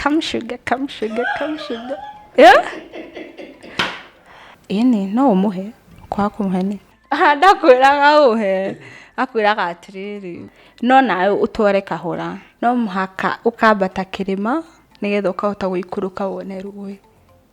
Come sugar, come sugar, come sugar. Yeah? Ini, no umuhe. Kwa kumuhe ni. Ah, ndakwĩraga ũhe. Akwĩraga atĩrĩrĩ. No nawe ũtware kahora. No mũhaka ũkambata kĩrĩma nĩgetha ũkahota gũikũrũka wone rũĩ.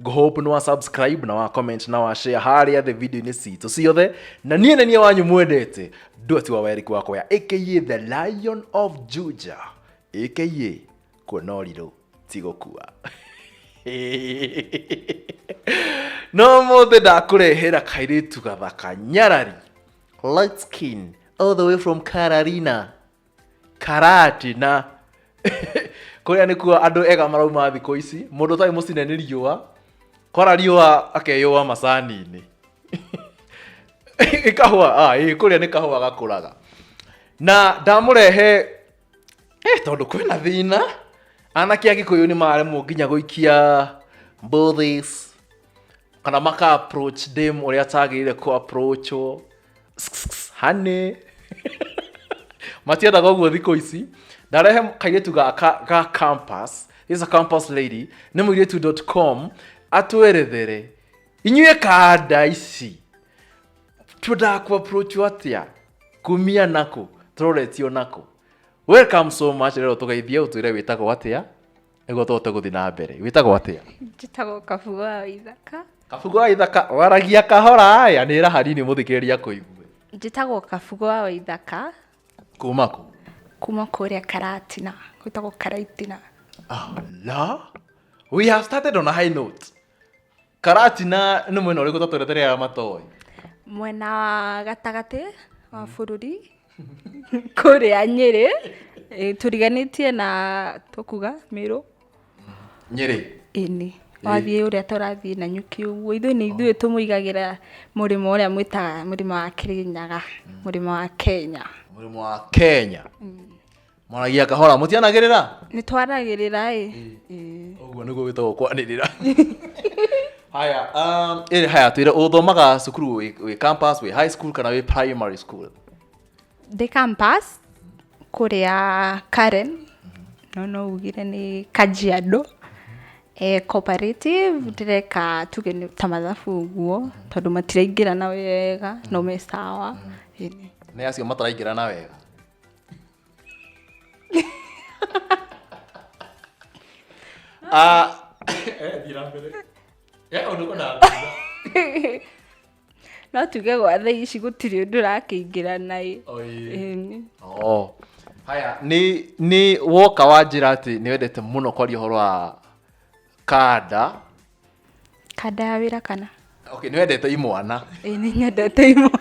ngũhope nĩ wa subscribe na wa comment na wa share harĩa thĩ video-inĩ citũ ciothe na niĩ nĩ niĩ wanyu mwendete ndwati wa weriku wakwa ya aka the lion of juja aka kuona ũrirũ ti gũkua no mũthĩ ndakũrehera kairĩtu gathaka nyarari light skin all the way from cararina karatina kuria nikuo andu ega marauma thiku ici mundu tai mucine ni riua kora riua akeyua macani-ini kahua ah, ĩ, kuria ni kahua gakuraga na ndamurehe eh, tondu kwina thina anake a gikuyu ni maremwo nginya guikia mbuthis kana maka approach dem uria atagirire ku approachwo hane matiendaga ũguo thikũ ici ndarehe kairĩtu gaka ga campus this is a campus lady nĩ mũirĩtu com atwerethere inyuĩ kanda ici twendaga kũ approach atĩa kumia nako tũroretio nako welcome so much rero tũgeithie ũtwĩre wĩtagwo atĩa nĩguo tũhote gũthiĩ na mbere wĩtagwo atĩa njĩtagwo kabugo wa ithaka kabugo wa ithaka waragia kahora aya nä ra hanini må thikä rä ria kå igue njĩtagwo kabugo wa ithaka kuma kå kuma kũrĩa karatina gwĩtagwo karaitina la we have started on a high note Karatina nĩ mwena ũrĩkũ tatweretere ya matoĩ? Mwena wa gatagatĩ wa mm. bũrũri kũrĩa Nyĩrĩ eh, tũriganĩtie na tũkuga Mĩrũ. Nyĩrĩ? Ĩni. Wathiĩ ũrĩa tũrathiĩ na nyuki ũguo ithuĩ nĩ ithuĩ oh. tũmũigagĩra mũrĩmo ũrĩa mwĩtaga mũrĩmo wa Kĩrĩnyaga, mm. mũrĩmo wa Kenya. Mũrĩmo wa Kenya. Mm. mwaragia kahora mũtianagĩrĩra nĩ twaragĩrĩra ĩ Ĩĩ. ũguo nĩguo wĩtagwo kwanĩrĩra haya um, ĩrĩ haya twĩre ũthomaga cukuru wĩ wĩ campus wĩ high school kana wĩ primary school ndĩ campus kũrĩa karen no no ugire nĩ kajiado e, cooperative ndĩreka tuge nĩ ta mathabu ũguo tondũ matiraingĩrana wega no me sawa Ĩĩ. nĩ acio mataraingĩrana wega Ah, eh, thiĩ na mbere. Eh, ũndũ ũko na mbere. no tuge gwa thaa ici gũtirĩ ũndũ ũrakĩingĩra naĩ Oi. Ĩĩ. Oh. Haya, nĩ nĩ woka wanjĩra atĩ nĩ wendete mũno kwaria ũhoro wa kanda Kanda ya wĩra kana? Okay, nĩ wendete imwana. Ĩĩ nĩ nyendete imwana.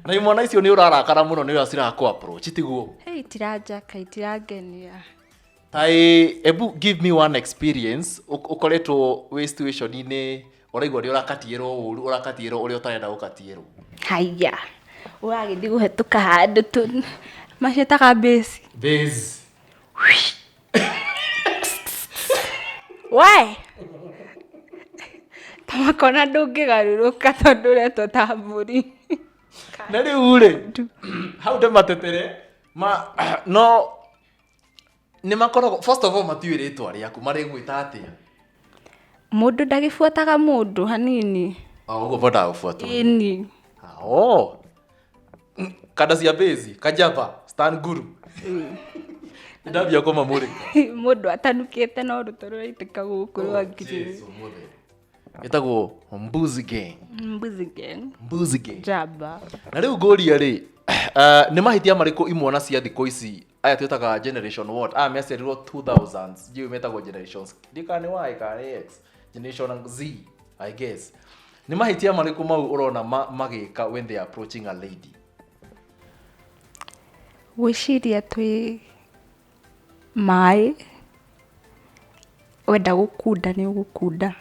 Na imwana icio nĩ ũrarakara mũno nĩ ũrĩa cirakũ approach tiguo? Hey, tiranjaka, itirangenia. Taĩ, ebu give me one experience ũ- ũkoretwo wĩ situation-inĩ ũraigua nĩ ũrakatiĩrwo ũru, ũrakatiĩrwo ũrĩa ũtarenda gũkatiĩrwo. Haiya. Ũragĩthiĩ kũhetũka handũ tu. Macetaga base. Base. we tamakona ndũngĩgarũrũka tondũ ũretwo ta mbũri na rä u rä hau ndä matetere ma no nä makoragwo first of all matiå rä twa rä aku marä gwä ta atä a mũndũ ndagĩbuataga mũndũ hanini å guo bodaga gå buatwo ini oh kada cia bezi kajava stan guru ndambia koma mũrĩ mũndũ atanukĩte no rũtũ rũraitĩka gũkũ rwa ngirini ĩtagwo mbuzi gang mbuzi gang mbuzi gang jamba na rĩu ngũria rĩ uh, nĩ mahĩtia marĩkũ imwana cia thikũ ici aya twĩtaga generation what aya meciarirwo 2000 jiu metagwo generations ndikane y kana x generation z i guess nĩ mahĩtia marĩkũ mau ũrona ma- magĩka when they are approaching a lady gwĩciria twĩ maĩ wenda gũkunda nĩ ũgũkunda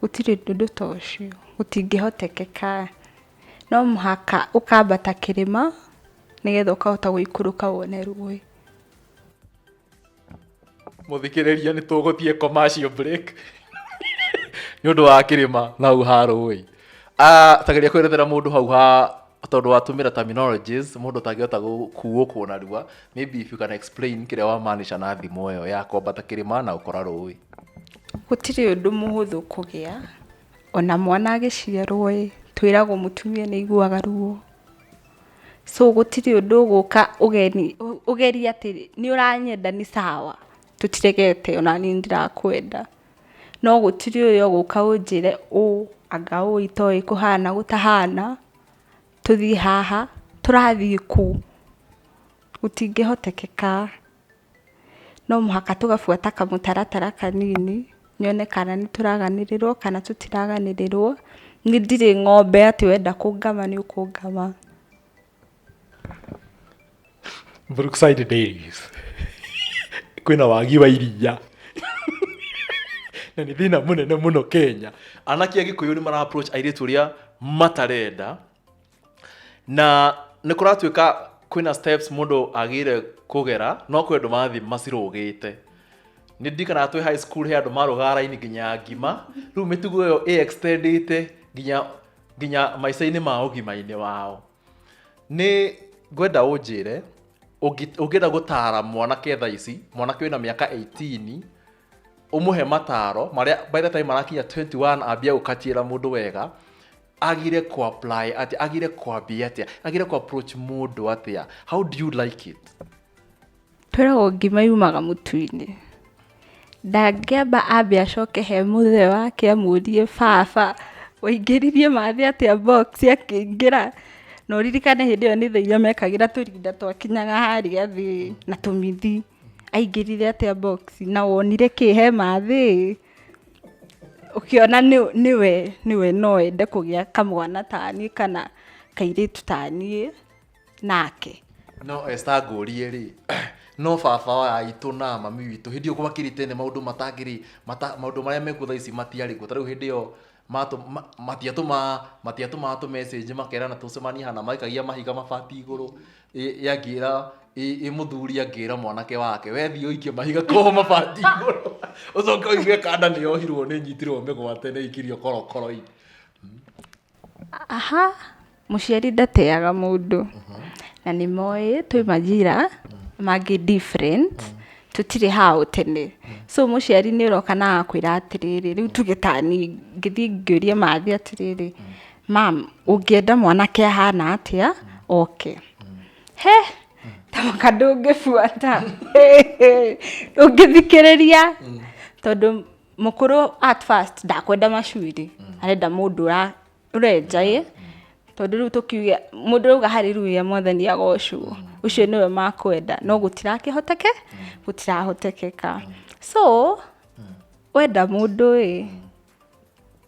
Gũtirĩ ũndũ ta ũcio, gũtingĩhotekeka. No mũhaka ũkambata kĩrĩma nĩgetha ũkahota gũikũrũka wone rũĩ. Mũthikĩrĩria nĩ tũgũthiĩ commercial break nĩ ũndũ wa kĩrĩma na hau ha rũĩ. Ah, tageria kwerethera mundu hau ha tondu watumira terminologies mundu tangihota gukuo kuo na rua maybe if you can explain kiria wa manisha na thimu iyo ya kwambata kirima na ukora rui gũtirĩ ũndũ mũhũthũ kũgĩa ona mwana agĩciarwo ĩ twĩragwo mũtumia nĩ aiguaga ruo so gũtirĩ ũndũ ũgũka ũgeni ũ- ũgeria atĩ nĩ ũranyenda nĩ sawa tũtiregete ona niĩ nĩ ndĩrakwenda no gũtirĩ ũrĩa ũgũka ũnjĩre ũũ anga ũũ itoĩ kũhana gũtahana, tũthiĩ haha, tũrathiĩ kũ? Gũtingĩhotekeka, no mũhaka tũgabuata kamũtaratara kanini, nyone kana nĩ tũraganĩrĩrwo kana tũtiraganĩrĩrwo, niĩ ndirĩ ng'ombe atĩ wenda kũngama nĩ ũkũngama. Brookside Dairies kwĩna wagi wa iria na nĩ thĩna mũnene mũno Kenya anake a Gĩkũyũ nĩ mara approach airĩtu ũrĩa matarenda na nĩ kũratuĩka kwĩna steps mũndũ agĩrĩire kũgera no kwĩ andũ marathiĩ macirũgĩte nĩ ndirikanaga twĩ high school he andũ marũgaga raini nginya ngima rĩu mĩtugo ĩyo ĩ extendĩte nginya nginya maica-inĩ ma ũgima-inĩ wao nĩ ngwenda ũnjĩre ũngi- ũngĩenda gũtaara mwanake thaa ici mwanake wĩna mĩaka 18 ũmũhe mataro marĩa by the time marakinya 21 ambia gũkatiĩra mũndũ wega agire ku apply atĩa agire kwambia atĩa agire ku approach mũndũ atĩa how do you like it Twĩragwo ngima yumaga mũtu-inĩ. Ndangĩamba ambe acoke he mũthee wake amũrie baba waingĩririe mathĩ atĩa box akĩingĩra? Na ũririkane hĩndĩ ĩyo nĩ thaa iria mekagĩra tũrinda twakinyaga harĩa thĩ na tũmithi. Aingĩrire atĩa box? Na wonire kĩ he mathĩ ĩĩ? Ũkĩona nĩwe no ende kũgĩa kamwana ta niĩ kana kairĩtu ta niĩ. nake no esta ngũrie rĩ no baba wa aitũ na mami witũ hĩndĩ ĩyo gwakĩrĩ tene maũndũ matangĩrĩ mata, maũndũ marĩa mekuo thaa ici matiarĩ kuo tarĩu hĩndĩ ĩyo matũ- ma- matiatũma matiatũmaga tũ message makerana tũcemanie hana maikagia mahiga mabati igũrũ ĩ- ĩ angĩra ĩ ĩ mũthuri angĩra mwanake wake wethiĩ ũikie mahiga koo mabati igũrũ ũcoke ũigue kanda nĩ yohirwo nĩ nyitirwo mĩgwate nĩ aikirio korokoro-inĩ Aha mũciari ndateaga mũndũ, na nĩ moĩ twĩ manjĩra mangĩ different tũtirĩ hau tene. So mũciari nĩ ũroka na agakwĩra atĩrĩrĩ, rĩu tuge ta niĩ ngĩthiĩ ngĩũrie mathi atĩrĩrĩ, ma'am ũngĩenda mwanake ahana atĩa oke? He! Ta mũka ndũngĩbuata, ndũngĩthikĩrĩria tondũ... Mũkũrũ at first ndakwenda macuĩrĩ, arenda mũndũ ũra- ũrenja ĩ, tondũ rĩu tũkiuge mũndũ ũrauga haleluya mwathani agocwo, ũcio nĩwe makwenda, no gũtirakĩhoteke, gũtirahotekeka. So, wenda mũndũ ĩ,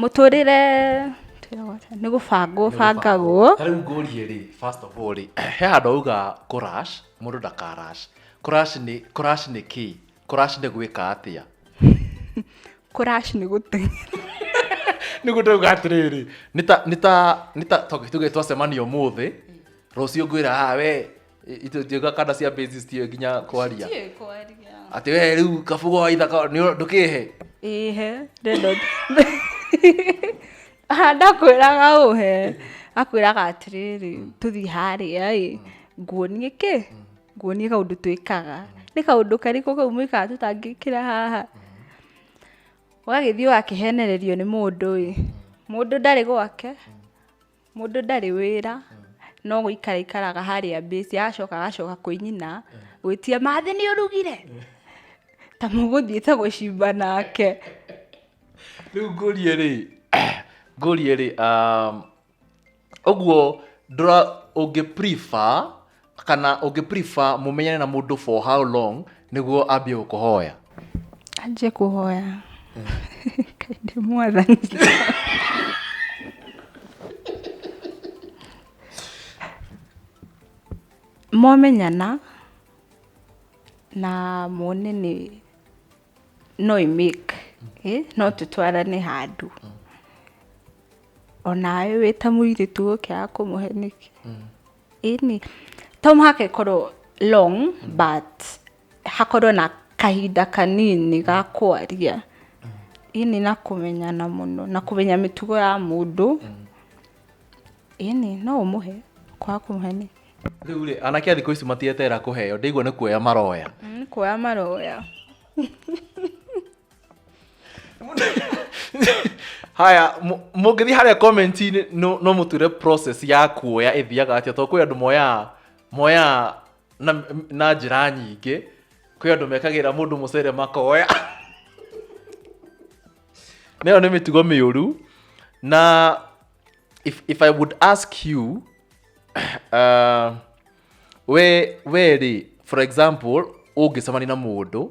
Mũtũrĩre nĩ gũbangwo bangagwo. Ta rĩu ngũrie rĩ, first of all rĩ, he handũ auga kũrash, mũndũ ndakarash. Kũrash nĩ, kũrash nĩ kĩĩ? Kũrash nĩ gwĩka atĩa? Kũrash nĩ gũteng'era. Nĩguo ndauga atĩrĩrĩ, nĩ ta, nĩ ta, nĩ ta, tuge twacemania ũmũthĩ, rũciũ ngwĩra haha wee, itjga kanda cia base citiũĩ nginya kwaria Ndiũĩ kwaria. atĩ we rĩu kabugo wa ithaka nĩ- ndũkĩhe ihe rendo ndakwĩraga ũhe akwĩraga atĩrĩrĩ tũthiĩ harĩa ĩ nguonie kĩ nguonie kaũndũ twĩkaga nĩ kaũndũ karĩkũ kau mwĩkaga tũtangĩkĩra haha ũgagĩthiĩ ũgakĩhenererio nĩ mũndũ ĩ mũndũ ndarĩ gwake Mũndũ ndarĩ wĩra, no gũikara aikaraga harĩa base, agacoka agacoka kwĩ nyina gwĩtia, "Mathi nĩ ũrugire?" Ta mũgũthiĩte gũcimba nake. Rĩu ngũrie rĩ, ngũrie rĩ, ũguo ũngĩ prefer kana ũngĩ prefer mũmenyane na mũndũ for how long nĩguo ambie gũkũhoya anjie kũhoya kaindĩ mwathani momenyana na mone nĩ no imake eh? no tũtwarane handũ onawe wĩ ta mũirĩtu ũkĩaga kũmũhe nĩkĩ Ĩni, to mũhaka ĩkorwo long but hakorwo na kahinda kanini ga kwaria ĩni na kũmenyana mũno na kũmenya mĩtugo ya mũndũ ĩni no ũmũhe kwaga kũmũhe nĩ rĩu rĩ anake a thikũ ici matieterera kũheo ndaigua nĩ kuoya maroya nĩ kuoya maroya haya mu- mũngĩthiĩ harĩa comment-inĩ no no mũture process ya kuoya ĩthiaga atĩa tondũ kwĩ andũ moyaa moyaa na, na njĩra nyingĩ kwĩ andũ mekagĩra mũndũ mũcere makoya nayo nĩ mĩtugo mĩũru na if, if i would ask you uh, we we rĩ for example ũngĩcemania na mũndũ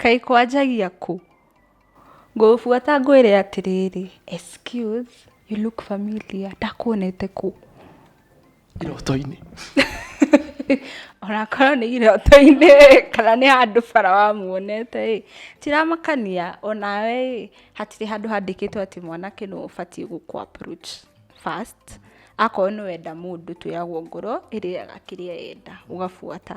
Kaĩ kwanjagia kũ? Ngũgũbuata ngwĩre atĩrĩrĩ, excuse, you look familiar, ndakuonete kũ? Iroto-inĩ. Onakorwo nĩ iroto-inĩ ĩ, kana nĩ handũ bara wamuonete ĩ, tiramakania onawe ĩ, hatirĩ handũ handĩkĩtwo atĩ mwanake nĩwe ũbatiĩ gũkũ approach first, akorwo nĩ wenda mũndũ twĩragwo ngoro ĩrĩaga kĩrĩa yenda, ũgabuata.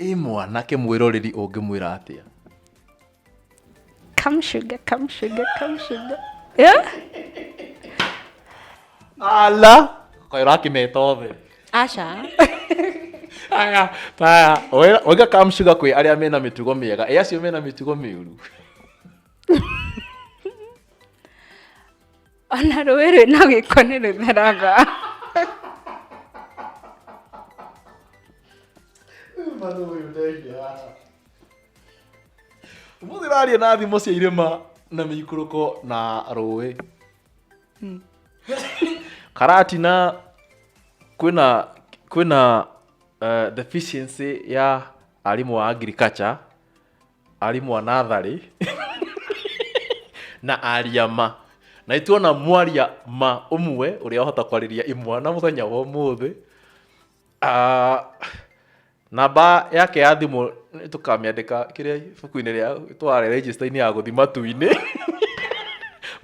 ĩ mwanake mwĩroreri ũngĩmwĩra atĩa Come sugar, come sugar, come sugar. Yeah? ala kayo rakimeta othe Asha. aya taya oiga kamshuga kwĩ arĩa mena mĩtugo mĩega ĩ acio mena mĩtugo mĩũru ona rũĩ rwĩna gĩko nĩ rũtheraga Mano ũyũ ndeithia haha. Ũmũthĩ ũraria na thimo cia irĩma na mĩikũrũko na rũĩ. Karatina kwĩna kwĩna eh, deficiency ya arimũ a agriculture arimũ a natharĩ na aria ma na nĩ tuona mwaria ma ũmwe ũrĩa ahota kwarĩria imwana mũthenya wa ũmũthĩ Ah, namba yake ya thimũ nĩ tũkamĩandĩka kĩrĩa ibuku-inĩ rĩa tware register-inĩ ya gũthi matu-inĩ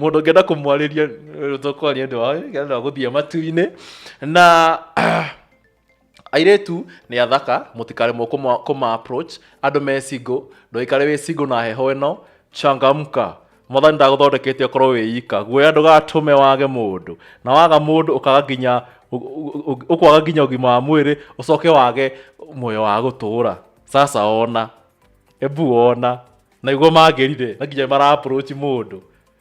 mũndũ ũngĩenda kũmwarĩria tũkwaria ndĩ wa gũthiĩ matu-inĩ na Airĩtu nĩ athaka, mũtikaremwo kũma, kũma approach. Andũ me single, ndũikare wĩ single na heho ĩno. Changamka. Mwathani ndagũthondekete ũkorwo wĩ ika. Guoya ndũgatũme wage mũndũ. Na waga mũndũ ũkaga nginya ũ- ũ- ũ- ũkwaga nginya ũgima wa mwĩrĩ, ũcoke wage muoyo wa gũtũũra. Sasa ona. Ebu ona. Na nĩguo mangĩrire, na nginya mara approach mũndũ.